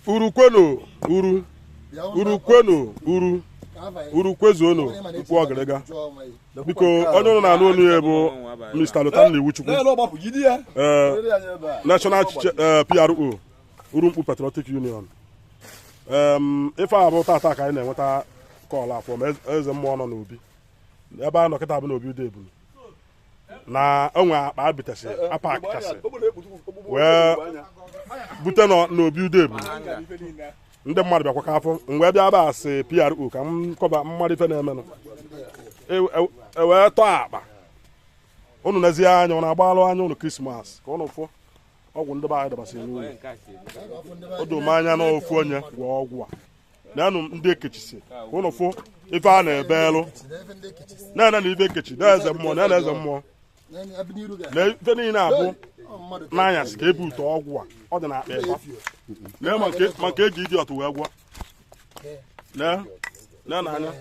Uru kwenu Uru Uru kwenu Uru Uru kwezuonu Mkpu Ọgịrịga biko onye ụnụ na-anụ onu ya bụ Mr. Lotanna Iwuchukwu eh, National eh, PRO Urumkpu Patriotic Union ife a bụ tata ka anyị na-enweta call afọ ma eze mmụọ nọ n'obi ebe a nọ kịta bụ n'obi Ude Ebunu na o nwe akpa abitasị a pakasị wee bute n'obi Ude Ebunu ndị mmadụ bịakwa ka afọ m wee bịa ebe a as PRO ka m kọba mmadụ ife na-emenụ e wee e, e tọọ akpa unu nezie anya ụnụ agbala anya ụnụ Christmas ka ụnụ fụ ọgwụ ndị be anyị dọbasịrị n'ụlọ o doo m anya na ofu onye gwọọ ọgwụ a neenụ ndị e kechisi ụnụ fụ ife a n'ebe elu neenụ ife e kechi na eze mmụọ na eze mmụọ na ife niile a bụ n'anyasị ka e bute ọgwụ a ọ dị na akpa ịkpa na maka eji ịdị ọtụ wee gwọ nene anya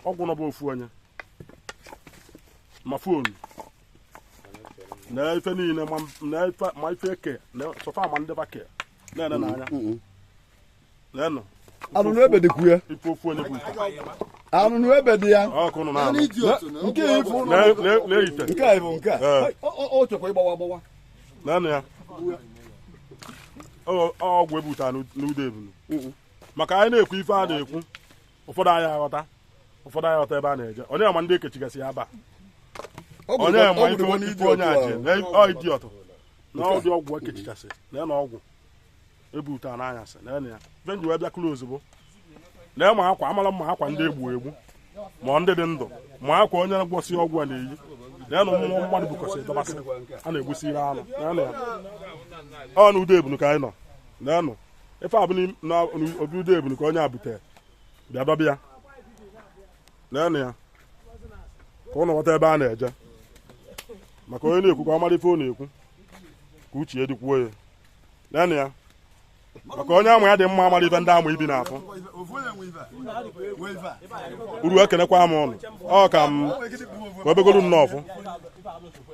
ọgwụ nọbụ ofu onye ma fụọnụ na ife niile ma ife eke na sofa ma ndị bake na-ene n'anya anụnụ ebe dịkwu ya anụnụ ebe dị ya nke a ịbụ nke a ịbụ nke a ọ chọkwa ịgbawa agbawa neenụ ya ọgwụ e buta n'Ude Ebunu maka anyị na-ekwu ife a na-ekwu ụfọdụ anyị aghọta ụfọdụ anyị aghọta ebe a na-eje onye ma ndị ekechigasị ya aba onye ma ife onye aje ọ ịdị ọtụ na ụdị ọgwụ ekechigasị na ya na ọgwụ e buta n'anyasị na ya ife m ji wee bịa kụrụ ozugbo lee ma akwa amara mma akwa ndị egbu egbu ma ndị dị ndụ ma akwa onye gwọsị ọgwụ a na-eyi na ya na ụmụ mmadụ bụkọsị dọbasị a na-egbusiri anụ ọ na Ude Ebunu ka anyị nọ na ife a bụ na obi Ude Ebunu ka onye a butere bịa dọba ya na ya ka ụnụ ghọta ebe a na-eje maka onye na-ekwu ka ọ mara ife ọ na-ekwu ka uche ya dịkwuo ya leenụ ya maka onye amụ ya dị mma amarọ ife ndị amụ ibi na-afụ Uru ekenekwa m ụnụ ọ ka m kwubegolu nnọọ ọfụ